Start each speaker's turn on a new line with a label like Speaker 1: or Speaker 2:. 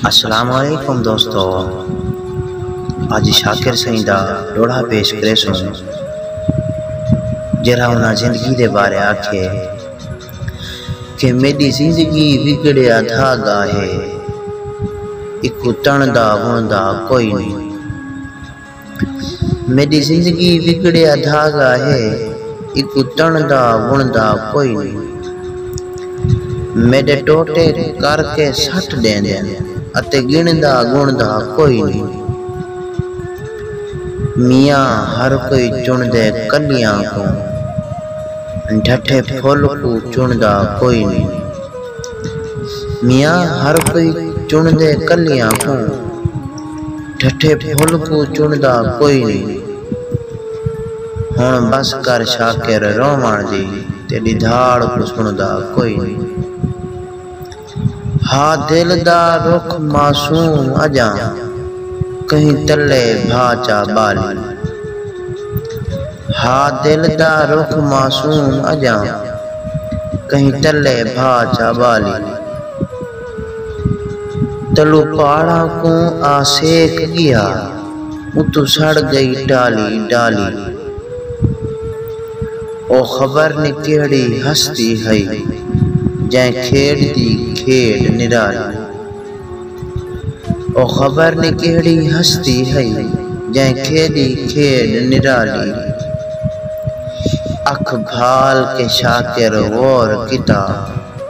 Speaker 1: السلام علیکم دوستو اج شاکر سئیں دا ڈوہڑا پیش کریسوں جیرھا انہاں زندگی دے بارے آکھے کہ میڈی زندگی وگڑیا دھاگا ہے ایکوں تݨدا وݨدا کوئی نئیں۔ میݙی زندگی وڳڑیا دھاڳا ہے ایکوں تݨدا وݨدا کوئی نی میݙے ٹوٹے کر کے سٹ ݙیندن اتے ڳݨدا ڳݨدا کوئی نی میاں ہر کوئی چݨدے کلیاں کوں ڈھٹھے پھل کوں چݨدا کوئی نی میاں ہر کوئی چݨدے کلیاں کوں۔ ڈھٹھے پھل کوں چݨدا کوئی نی۔ ہݨ بس کر شاکر رووݨ دی تیݙی دھاڑ کوں سݨدا کوئی نی۔ ہا دل دا رخ معصوم اڄاں کہیں تلے بھا چا ٻالی۔ ہا دل دا رخ معصوم اڄاں کہیں تلے بھا چا ٻالی۔ تلو پاڑاں کوں آ سیک ڳیا اتوں سڑ ڳئی ڈالی ڈالی او خبر نی کیہڑی ہستی ہئی جئیں کھیݙ دی کھیݙ نرالی او خبر نی کیہڑی ہستی ہئی جئیں کھیݙی کھیݙ نرالی اکھ بھال کے شاکر غور کیتا۔